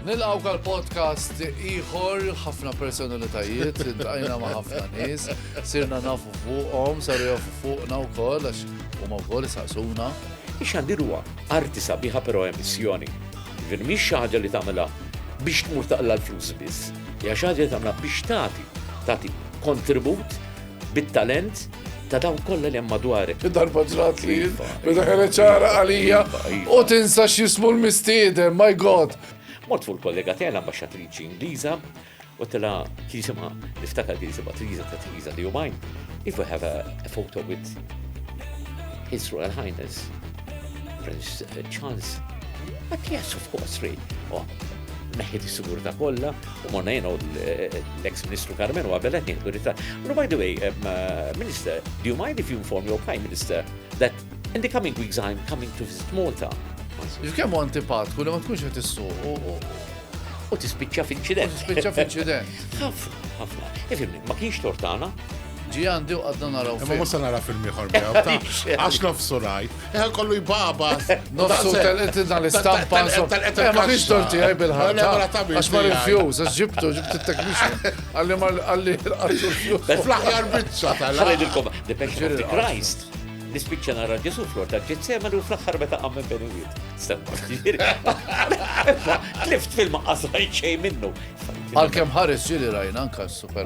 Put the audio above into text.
Nilqaw għal podcast iħor, ħafna personalitajiet, dajna ma ħafna nis, sirna nafu fuqom, saru jafu fuqna u koll, għax u ma koll saqsuna. Ix għandiruwa, arti sabiħa pero emissjoni. Jiġifieri mhix xi ħaġa li tagħmilha biex tmur taqla' l-flus biss, hija xi ħaġa li tagħmilha biex tagħti, tagħti kontribut bit-talent ta' dawn kollha li hemm madwarek. Darba ġrat li meta kienet ċara għalija u tinsa x'jismu l-mistieden, my God! Mort fuq il-kollega tiegħi l-ambaxxatriċi Ingliża U tela kisima, niftakar kisima Triza ta' Triza li jumajn, if we have a, a photo with His Royal Highness, Prince uh, Charles, but yes, of course, Ray. Oh, neħħit is-sigurta kollha u morna jenu l-ex ministru Carmen u għabelet nieħdu rita. No, by the way, um, uh, Minister, do you mind if you inform your Prime Minister that in the coming weeks I'm coming to visit Malta? Kemm antipatku li ma tkunx qed issuq U tispiċċa f'inċident. U tispiċċa f'inċident. Ħafna, ħafna. Ifimni, ma kienx tortana, ġi għandi u għadna naraw. Ma musa nara film ieħor Għax nofsu rajt. Eħal kollu jbaba. Nofsu tal-etina l-istampa. Eh, ma kienx torti għaj bil-ħar. Għax ma rifjus, għax ġibtu, ġibtu t-teknixin. Għalli ma għalli għalli. Fl-ħjar bicċa tal-għalli. Depeche of the Christ. Nispiċċa nara Ġesu flor ta' ġitsemen u fl-axħar meta għam minn beni wid. Tlift film maqqas rajt xej minnu. Għal-kem ħares ġili rajna anka super